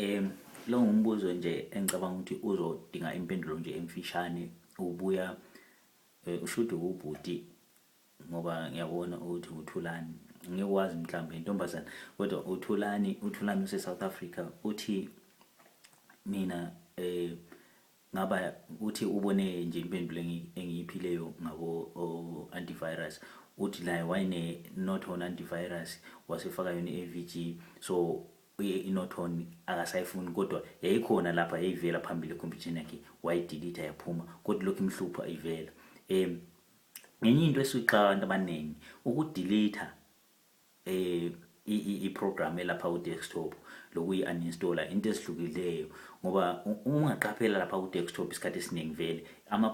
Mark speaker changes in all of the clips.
Speaker 1: Em lo ngumbuzo nje engicabanga ukuthi uzodinga impendulo nje emfishane ubuya eh, ushuthi ubhuti ngoba ngiyabona ukuthi uthulani ngikwazi mhlawumbe intombazana kodwa uthulani uthulani use-south africa uthi mina eh Ngaba uthi ubone nje impendulo engi- engiyiphileyo ngabo o- antivirus uthi naye wayene norton antivirus wasefaka yona i-avg so i- inorton akasayifuni kodwa yayikhona lapha yayivela phambili ekhompyutheni yakhe wayidilitha yaphuma kodwa lokhu imhlupha ivela um ngenye into esuyixaka abantu abaningi ukudilitha i program elapha ku desktop lokuyi uninstaller into ezihlukileyo ngoba uma ungaqaphela lapha ku desktop isikhathi esiningi vele ama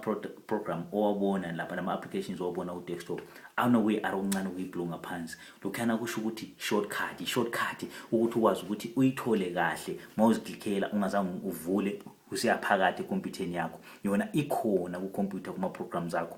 Speaker 1: program owabona lapha nama applications owabona ku desktop anokuyi arrow ncane kuyi blue ngaphansi lokhana kusho ukuthi shortcut i shortcut ukuthi ukwazi ukuthi uyithole kahle mawuziklikhela ungazange uvule useyaphakathi ekhompyutheni yakho yona ikhona ku computer kuma programs akho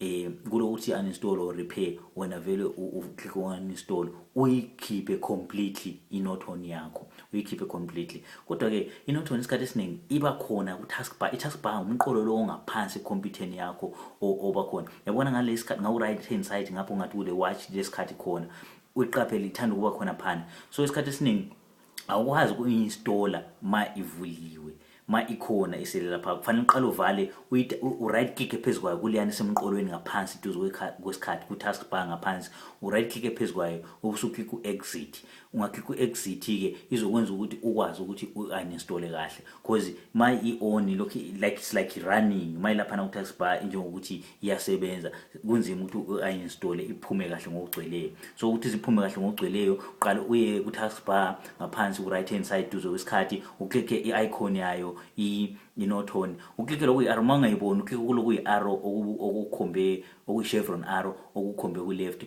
Speaker 1: eh kulokuthi uninstall or repair wena vele uclick uninstall uyikhiphe completely inoton yakho uyikhiphe completely kodwa ke inoton isikhathi esiningi iba khona ku taskbar i taskbar umqolo lo ongaphansi computerni yakho oba khona yabona ngale isikhathi ngawu right hand side ngapho ngathi kule watch lesikhathi khona uyiqaphele ithanda ukuba khona phana so isikhathi esiningi awukwazi ukuinstalla ma ivuliwe ma ikhona isele lapha kufanele uqale uvale u-right click phezu kwayo kuleyana isemqolweni ngaphansi duze kwesikhathi ku-task bar ngaphansi u-right click phezu kwayo ubusuclick u-exit ungaclick u-exit-ke izokwenza ukuthi ukwazi ukuthi u-uninstole kahle cause ma i-on lokhu like it's like running ma ilaphana ku-task bar njengokuthi iyasebenza kunzima ukuthi ayinstole iphume kahle ngokugcweleyo so ukuthi ziphume kahle ngokugcweleyo uqale uye ku-task bar ngaphansi ku-right hand side duze kwesikhathi uklikhe i-icon yayo inotone uklikhe lokhu i-arrow uma ungayiboni uklikhe kuloku i-arrow okukhombe okuyi-chevron arrow okukhombe ku-left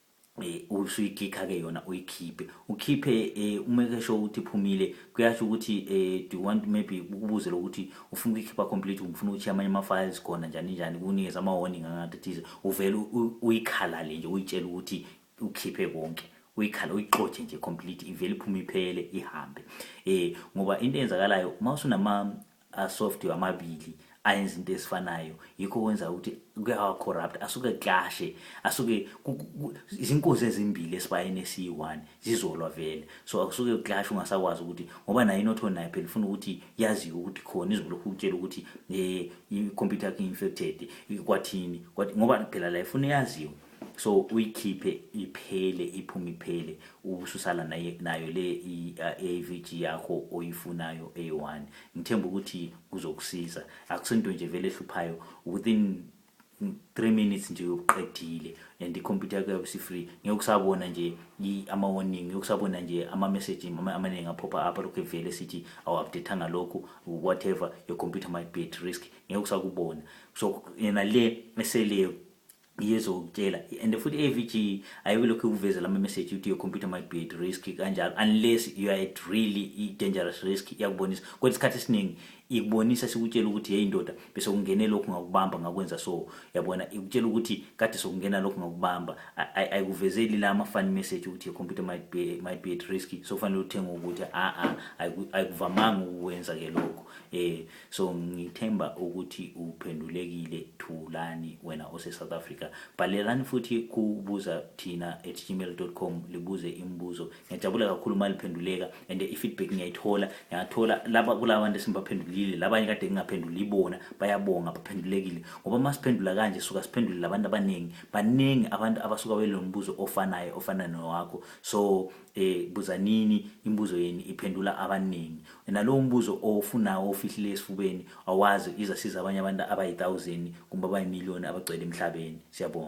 Speaker 1: eh usuyikhikha ke yona uyikhiphe ukhiphe eh uma kesho ukuthi phumile kuyasho ukuthi eh do you want maybe ukubuze lokuthi ufuna ukukhipha complete ungifuna ukuthi amanye ama files khona njani njani kunikeza ama warning angathi thize uvela uyikhalale nje uyitshela ukuthi ukhiphe konke uyikhala uyixotshe nje complete ivele iphume iphele ihambe eh ngoba into eyenzakalayo uma usunama asoftware amabili ayenza into esifanayo yikho kwenza ukuthi kuyawa corrupt asuke clashe asuke izinkozi ezimbili esibayeni esiyi-1 zizolwa vele so akusuke clash ungasakwazi ukuthi ngoba naye inotho naye phela ufuna ukuthi yaziwe ukuthi khona izolokhu utshela ukuthi um i-computer yakhe infected kwathini ngoba phela la ifuna yaziwe so uyikhiphe iphele iphume iphele ubususala nayo le i-AVG uh, yakho oyifunayo A1 ngithemba ukuthi kuzokusiza akusento nje vele ehluphayo within 3 minutes nje uqedile and i-computer yakho yabe si-free ngeke usabona nje ama-warning ngeke usabona nje ama-message amaningi aphopha up lokhu evele sithi awu-updatanga lokhu whatever your computer might be at risk ngeke usakubona so yena le eseleyo iyezokutshela and futhi i-avg ayikilokhu ikuveze lama message ukuthi your computer might be at risk kanjalo unless you are at really i-dangerous risk iyakubonisa kodwa isikhathi esiningi ikubonisa sikutshela ukuthi yeyi ndoda bese kungene lokhu ngakubamba ngakwenza so yabona ikutshela ukuthi kade sokungena lokhu ngakubamba ayikuvezeli la ama-funny message ukuthi your computer might be, might be at risk so kufanele uthenge ukuthi a-a ayikuvamanga ukukwenza-ke lokhu um So ngithemba ukuthi uphendulekile Thulani wena ose South Africa. Bhalelani futhi kubuza thina at gmail.com libuze imibuzo. Ngiyajabula kakhulu uma liphenduleka and i-feedback ngiyayithola. Ngiyathola laba kulabantu esimbaphendulile labanye kade ngingaphenduli ibona bayabonga baphendulekile ngoba uma siphendula kanje suka siphendule labantu abaningi baningi abantu abasuka belombuzo ofanayo ofana nowakho so Eh buzanini imibuzo yenu iphendula abaningi. Wena lowo mbuzo ofunawo ofihlile esifubeni awazi izasiza abanye abantu abayi-1000 kumbe abayi-million abagcwele emhlabeni. Siyabonga.